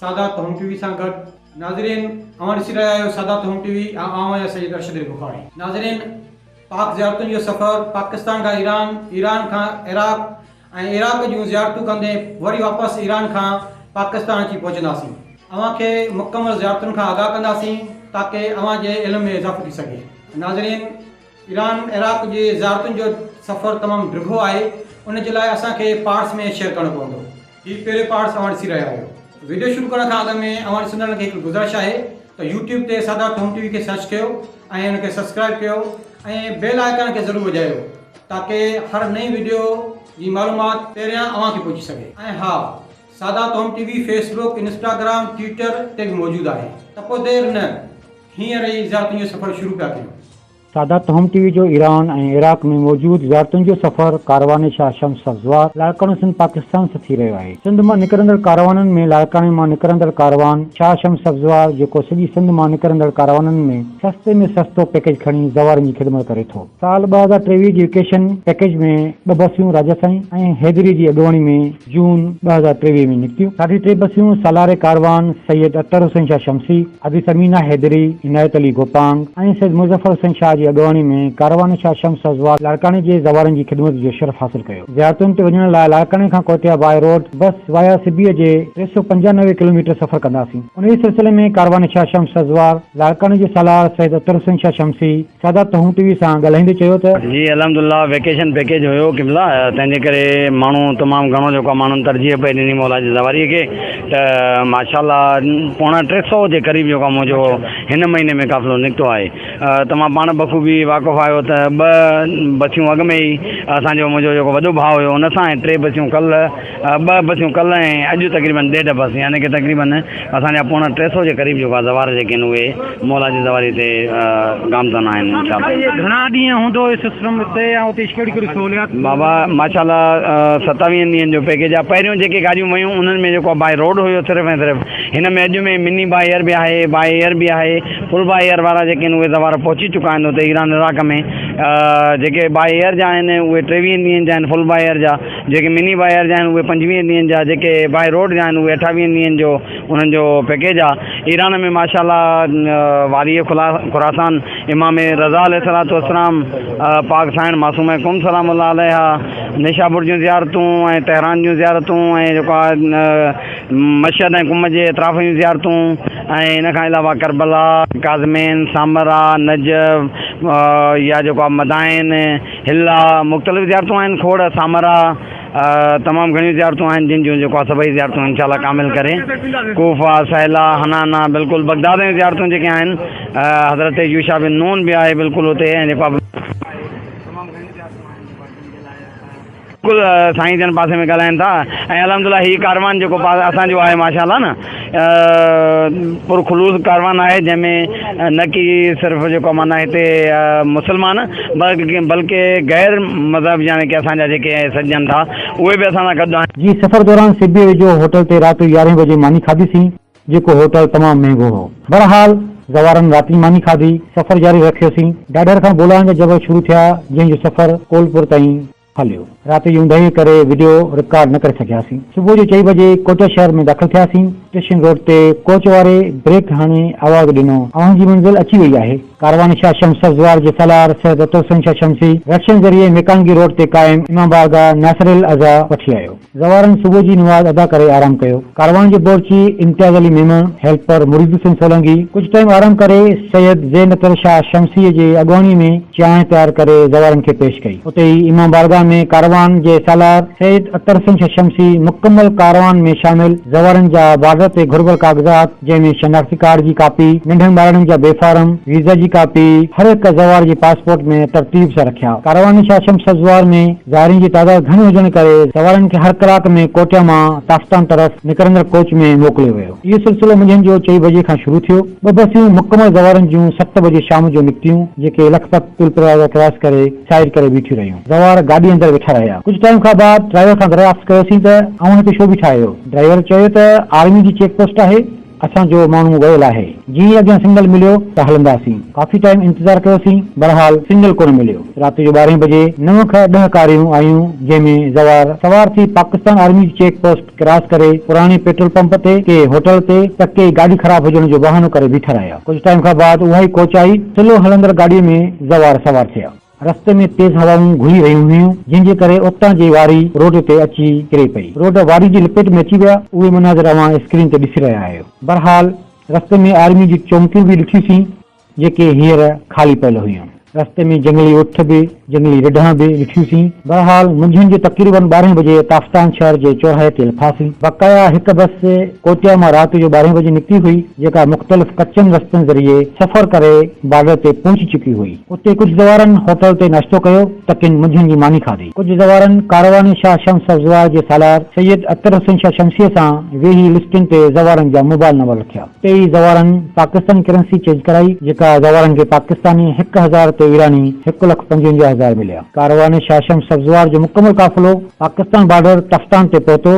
سادات home T V سان گڏ. ناظرين اوهان ڏسي رهيا آهيو سادات هوم ٽي وي ۽ آئون آهيان سيد ارشد علي بخاري. ناظرين پاڪ زيارتن جو سفر پاڪستان کان ايران، ايران کان عراق ۽ عراق جون زيارتون ڪندي وري واپس ايران کان پاڪستان اچي پهچنداسين اوهان کي مڪمل زيارتن کان آگاهه ڪنداسين تاڪه اوهان جي علم ۾ اضافو ٿي سگهي ناظرين. ايران عراق جي زيارتن جو سفر تمام ڊگهو آهي ان جي لاء اسان کي پارٽس ۾ شيئر ڪرڻو پوندو. هي پهريون پارٽس اوهان ڏسي رهيا آهيو. ويڊيو شروع ڪرڻ کان اڳ ۾ اوهان ڏسندڙن کي هڪ گذرش آهي ته يوٽيوب تي سردار ٿهوم ٽي وي کي سرچ ڪيو ۽ ان کي سبسڪرائيب ڪيو ۽ بيل آئيڪان کي ضرور وڄايو تاڪه هر نئين ويڊيو جي معلومات پهريان اوهان کي پهچي سگهي ۽ ها سردار ٿهوم T V Facebook Instagram Twitter تي به موجود آهي ته پوء دير نه هينئر ئي زيارتن جو سفر شروع پيا ڪيون. سادات هوم ٽي وي جو ايران ۽ عراق ۾ موجود زيارتن جو سفر ڪاروان شاهه شمس سبزوار لاڙڪاڻو سنڌ پاڪستان سان ٿي رهيو آهي. سنڌ مان نڪرندڙ ڪاروانن ۾ لاڙڪاڻي مان نڪرندڙ ڪاروان شاهه شمس سبزوار جيڪو سڄي سنڌ مان نڪرندڙ ڪاروانن ۾ سستي ۾ سستو پيڪيج کڻي زوارن جي خدمت ڪري ٿو. سال ٻه هزار ٽيويهه جي ويڪيشن پيڪيج ۾ ٻه بسيون راجسائين ۽ حيدري جي اڳواڻي ۾ جون ٻه هزار ٽيويهه ۾ نڪتيون ساڍي ٽي بسيون سالار ڪاروان سيد اطهر حسين شاهه شمسي، ابي ثمينه حيدري، عنايت علي گوپانگ ۽ سيد مظفر حسين شاهه جي اڳواڻي ۾ ڪاروان شاهه شمس حضوات لاڙڪاڻي جي زوارن جي خدمت جو شرف حاصل ڪيو. زيارتن تي وڃڻ لاء لاڙڪاڻي کان Quetta by road bus via Sibi جي ٽي سؤ پنجانوي ڪلوميٽر سفر ڪنداسين. انهيء سلسلي ۾ ڪاروان شاهه شمس حضوات لاڙڪاڻي جي سالار سيد اطهر حسين شاهه شمسي، سادات تهون ٽي وي سان ڳالهائيندي چيو ته. جي الحمد الله ويڪيشن پيڪيج هيو قبلا تنهن جي ڪري ماڻهو تمام گهڻو جيڪو آهي ماڻهن ترجيح پئي ڏني مولا جي سواري کي ته ماشاء الله پوڻا ٽي سئو جي قريب جيڪو آهي منهنجو هن مهيني ۾ قافلو نڪتو آهي توهان پاڻ بخوبي واقف آهيو ته ٻه بسيون اڳ ۾ ئي اسان جو منهنجو جيڪو وڏو ڀاء هيو ان سان ۽ ٽي بسيون ڪل ٻه بسيون ڪلهه ۽ اڄ تقريبن ڏيڍ بس يعني ڪه تقريبن اسان جا پوڻا ٽي سئو جي قريب جيڪو زوار جيڪي آهن اهي مولا جي زواري تي گامزن آهن انشاء الله. گهڻا ڏينهن هوندو هي سسٽم اتي ۽ اتي ڪهڙي ڪهڙي سهوليات ٿيندي. بابا ماشاء الله ستاويهن ڏينهن جو پيڪيج آهي پهريون جيڪي گاڏيون ويون انهن ۾ جيڪو باء روڊ هيو صرف ۽ صرف هن ۾ اڄ ۾ مني باء ايئر به آهي باء ايئر به آهي فل باء ايئر وارا جيڪي آهن اهي زوار پهچي چڪا آهن اتي ايران عراق ۾ جيڪي باء ايئر جا آهن اهي ٽيويهن ڏينهن جا آهن فل باء ايئر جا جيڪي مني باء ايئر جا آهن اهي پنجويهه ڏينهن جا جيڪي باء روڊ جا آهن اهي اٺاويهن ڏينهن جو انهن جو پيڪيج آ ايران ۾ ماشاء الله وادي خراسان امام رضا عليه الصلوة والسلام پاڪ سائڻ معصومه قم سلام الله عليها نيشاپور جون زيارتون ۽ تهران جون زيارتون ۽ جيڪو آ مشهد ۽ قم جي اطراف جون زيارتون ۽ ان کان علاوه ڪربلا ڪاظمين سامرا نجف يا جيڪو آ مدائن هن لاء مختلف زيارتون آهن، کوڙ، سامرا، تمام گهڻيون زيارتون آهن، جن جون جيڪو آهي سڀئي زيارتون انشاء الله ڪامل ڪري، ڪوفه، سهيلا، حنانه، بلڪل بغداد جون زيارتون جيڪي آهن، حضرت يوشع بن نون به آهي بلڪل اتي ۽ جيڪو آهي. بلڪل سائين جن پاسي ۾ ڳالهائن ٿا ۽ الحمد الله هي ڪاروان جيڪو اسان جو آهي ماشاء الله نه پر خلوص ڪاروان آهي جنهن ۾ نه ڪي صرف جيڪو معنيٰ هتي مسلمان بلڪه غير مذهب يعني ڪي اسان جا جيڪي سڏجن ٿا اهي به اسان سان گڏ آهن. جي سفر دوران سبي ويجهو هوٽل تي رات جو يارهين بجي ماني کاڌيسين. جيڪو هوٽل تمام مهنگو هو. بهرحال زوارن راتي ماني کاڌي، سفر جاري رکيوسين. ڏاڏر کان بولان جا جبل شروع ٿيا، جنهن جو سفر ڪولپور تائين هليو. رات جي اوندهيء ڪري وڊيو رڪارڊ نه ڪري سگهياسين. صبح جو چئي بجي ڪوئٽه شهر ۾ داخل ٿياسين. اسٽيشن روڊ تي ڪوچ واري بريڪ هڻي آواز ڏنو، اوهان جي منزل اچي وئي آهي. ڪاروان شاهه شمس سبزوار جي سالار سيد عطوالحسن شاهه شمسي رڪشن ذريعي ميڪانگي روڊ تي قائم امام بارگاهه ناصرالعزا وٺي آيو. زوارن صبح جي نماز ادا ڪري آرام ڪيو. ڪاروان جي بورچي امتياز علي ميمڻ، هيلپر مريد حسين سولنگي ڪجهه ٽائيم آرام ڪري سيد زين الطريق شاهه شمسيء جي اڳواڻيء ۾ چانهه تيار ڪري زوارن کي پيش ڪئي. اتي ئي امام بارگاهه ۾ ڪاروان جي سالار سيد الطريق حسين شاهه شمسي مڪمل ڪاروان ۾ شامل زوارن جا بارڊر تي گهربل ڪاغذات، جنهن ۾ شناختي ڪارڊ جي ڪاپي، ننڍن ٻارڙن جا بي فارم، ويزا جي ڪاپي، هر هڪ زوار جي پاسپورٽ ۾ ترتيب سان رکيا. ڪاروان شاهه شمس زوار ۾ زائرين جي تعداد گهڻي هجڻ ڪري زوارن کي هر ڪلاڪ ۾ ڪوٽيا مان تافتان طرف نڪرندڙ ڪوچ ۾ موڪليو ويو. اهو سلسلو منجهند جو چئي بجي کان شروع ٿيو. ٻه بسيون مڪمل زوارن جون ست بجي شام جو نڪتيون، جيڪي لکپت پل پروازه ڪراس ڪري سائيڊ ڪري بيٺيون رهيون. زوار گاڏي اندر ويٺا رهيا. ڪجهه ٽائيم کان بعد ڊرائيور کان دريافت ڪيوسين ته اوهان هتي ڇو بيٺا آهيو؟ ڊرائيور چيو ته آرمي جي چيڪ پوسٽ آهي اسان جو ماڻهو ويل آهي جي ئي اڳيان سنگل مليو ته هلنداسين ڪافي ٽائيم انتظار ڪيوسين بهرحال سنگل ڪونه مليو رات جو ٻارهين بجي نو کان ڏهه ڪاريون آيون جنهن ۾ زوار سوار ٿي پاڪستان آرمي جي چيڪ پوسٽ ڪراس ڪري پراڻي پيٽرول پمپ تي ڪي هوٽل تي ته ڪي گاڏي خراب هجڻ جو بهانو ڪري بيٺا رهيا ڪجهه ٽائيم کان بعد اها ئي ڪوچ آئي سلو هلندڙ گاڏي ۾ زوار سوار ٿيا. رستي ۾ تيز هوائون گهلي رهيون هيون، جنهن جي ڪري اتان جي واري روڊ تي اچي ڪري پئي. روڊ واري جي لپيٽ ۾ اچي ويا. اهي مناظر اوهان اسڪرين تي ڏسي رهيا آهيو. بهرحال رستي ۾ آرمي جون چونڪيون به ڏٺيون سين، جيڪي هينئر خالي پيل هيون. رستي ۾ جهنگلي اٺ به، جهنگلي رڍان به ڏٺيون سين. بهرحال منجهند جو تقريباً ٻارهين بجي تافتان شهر جي چوراهي تي لٿاسين. بقايا هڪ بس ڪوٽيا مان رات جو ٻارهين بجي نڪتي هئي، جيڪا مختلف ڪچن رستن ذريعي سفر ڪري بارڊر تي پهچي چڪي هئي. اتي ڪجهه زوارن هوٽل تي ناشتو ڪيو ته ڪن منجهن جي ماني کاڌي. ڪجهه زوارن ڪاروان شاهه شمس افزواء جي سالار سيد اختر حسين شاهه شمسيء سان ويهي لسٽن تي زوارن جا موبائل نمبر لکيا. اتي ئي زوارن پاڪستاني ڪرنسي چينج ڪرائي، جيڪا زوارن کي پاڪستاني هڪ هزار تي ايراني هڪ لک پنجونجاهه هزار مليا. ڪاروان شاهه شمس افزوار جو مڪمل قافلو پاڪستان بارڊر تفتان تي پهتو.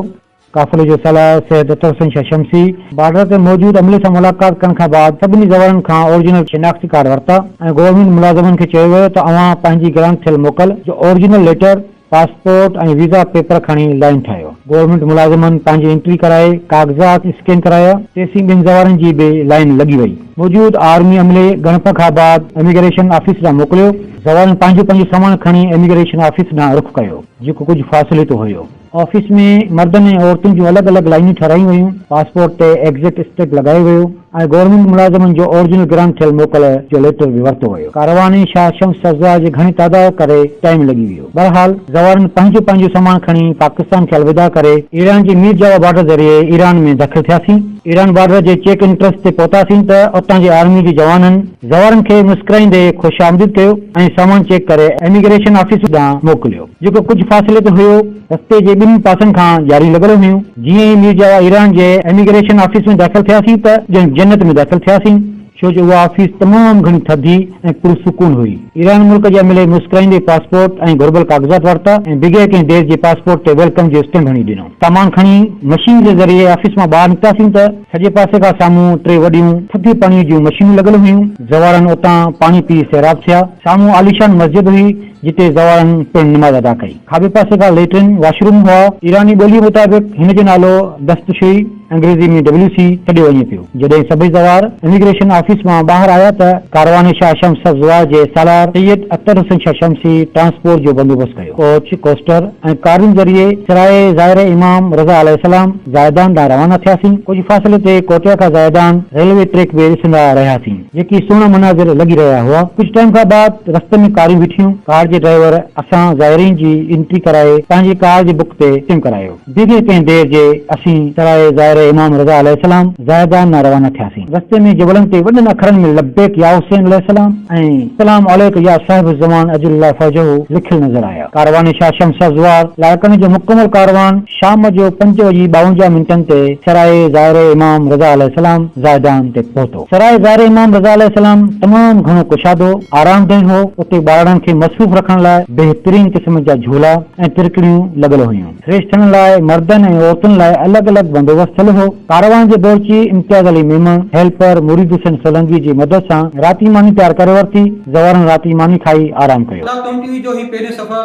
قافلي جو سالار سيد عطاحسين شاهه شمسي بارڊر تي موجود عملي سان ملاقات ڪرڻ کان بعد سڀني زوارن کان اورجنل شناختي ڪارڊ ورتا ۽ گورنمينٽ ملازمن کي چيو ويو ته اوهان پنهنجي گرانٽ ٿيل موڪل جو original letter, passport ۽ visa paper کڻي لائين ٺاهيو. گورنمينٽ ملازمن پنهنجي انٽري ڪرائي ڪاغذات اسڪين ڪرايا، تيسين ٻين زوارن جي به لائين لڳي وئي. موجود آرمي عملي ڳڻپ کان بعد اميگريشن آفيس ڏانهن موڪليو، زوارن پنهنجو پنهنجو سامان کڻي اميگريشن آفيس ڏانهن رخ ڪيو جيڪو ڪجهه فاصلي تي هيو. آفيس ۾ مردن ۽ عورتن جون الڳ الڳ لائينون ٺهرايون ويون، پاسپورٽ تي ايگزٽ اسٽيپ لڳايو ويو ۽ گورنمينٽ ملازمن جو اورجنل گرانٽ ٿيل موڪل جو ليٽر به ورتو ويو. ڪاروان ۽ شاهه شمس سبزوار جي گهڻي تعداو ڪري ٽائيم لڳي ويو. بهرحال زوارن پنهنجو پنهنجو سامان کڻي پاڪستان کي الوداع ڪري، ايران جي مير جاوا بارڊر ذريعي ايران ۾ داخل ٿياسين ايران بارڊر جي چيڪ انٽرس تي پهتاسين ته اتان جي آرمي جي جوانن زوارن کي مسڪرائيندي خوش آمديد ڪيو ۽ سامان چيڪ ڪري ايميگريشن آفيس ڏانهن موڪليو. جيڪو ڪجهه فاصلي تي هيو، رستي جي ٻنهي پاسن کان جاريون لڳل هيون. جيئن ئي مير جاوا ايران جي ايميگريشن آفيس ۾ داخل ٿياسين ته ڄڻ جنت ۾ داخل ٿياسين، ڇو جو اها آفيس تمام گهڻي ٿڌي ۽ پرسڪون هئي. ايران ملڪ جي عملي مسڪرائيندي پاسپورٽ ۽ گهربل ڪاغذات ورتا ۽ بغير ڪنهن دير جي پاسپورٽ تي ويلڪم جو اسٽيمپ هڻي ڏنو. سامان کڻي مشين جي ذريعي آفيس مان ٻاهر نڪتاسين ته سڄي پاسي کان سامهون ٽي وڏيون ٿڌي پاڻي جون مشينون لڳل هيون. زوارن اتان پاڻي پي سيراب ٿيا. سامهون عاليشان مسجد هئي، جتي زوارن پڻ نماز ادا ڪئي. کاٻي پاسي کان ليٽرين، واش روم، هئا. ايراني ٻوليء مطابق هن جو نالو دستشوئي، انگريزيء ۾ WC، سڏيو وڃي پيو. جڏهن سڀئي زوار اميگريشن آفيس مان ٻاهر آيا ته ڪاروان شاهه شمس سبزوار جي سالار سيد اختر حسين شاهه شمسي ٽرانسپورٽ جو بندوبست ڪيو. ڪوچ، ڪوسٽر ۽ ڪارن ذريعي سرائي زائر امام رضه عليه السلام زاهدان ڏانهن روانا ٿياسين. ڪجهه فاصلي تي ڪوٽيا کان زاهدان ريلوي ٽريڪ به ڏسندا رهياسين. جيڪي سهڻا مناظر لڳي رهيا هئا. ڪجهه ٽائيم کان بعد رستي ۾ ڪاريون بيٺيون، ڪار جي ڊرائيور اسان زائرين جي انٽري ڪرائي پنهنجي ڪار جي بڪ تي چيم ڪرايو. بغير ڪنهن دير جي اسين سرائي زائره امام رضا عليه السلام زاهدان ڏانهن روانا ٿياسين. رستي ۾ جبلن تي وڏن اکرن ۾ لبيڪ يا حسين عليه السلام ۽ سلام عليڪ يا صاحب الزمان عجل الله فرجه لکيل نظر آيا. ڪاروان شاهه شمس ازوار لائقن جو مڪمل ڪاروان شام جو پنج وڄي ٻاونجاهه منٽن تي سرائي زائره امام رضا عليه السلام زاهدان تي پهتو. سراء زار امام رضه عليه السلام تمام گهڻو ڪشادو، آرامده، هو، اتي ٻارڙن کي مصروف رکڻ لاء بهترين قسم جا جهولا ۽ ترڪڙيون لڳل هيون. سريشٺن لاء مردن ۽ عورتن لاء الڳ الڳ بندوبست ٿيل هو. ڪاروان جي بورچي امتياز علي ميمڻ، هيلپر، مريد حسين سولنگي جي مدد سان رات جي ماني تيار ڪري ورتي. زوارن رات جي ماني کائي آرام ڪيو. ڪلاڪ ٽوئنٽي جو هي پهريون سفر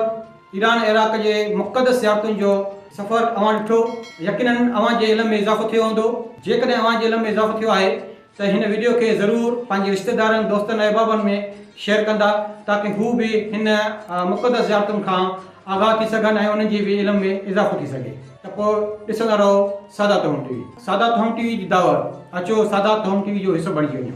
ايران عراق جي مقدس زيارتن جو سفر اوهان ڏٺو يقيناً اوهان جي علم ۾ اضافو ٿيو هوندو جيڪڏهن اوهان جي علم ۾ اضافو ٿيو آهي ته هن وڊيو کي ضرور پنهنجي رشتيدارن دوستن ۽ احبابن ۾ شيئر ڪندا تاڪه هو به هن مقدس زيارتن کان آگاهه ٿي سگهن ۽ انهن جي به علم ۾ اضافو ٿي سگهي ته پوء ڏسندا رهو سادات هوم ٽي وي. سادات هوم ٽي وي جي دعوت اچو سادات هوم ٽي وي جو حصو بڻجي وڃو.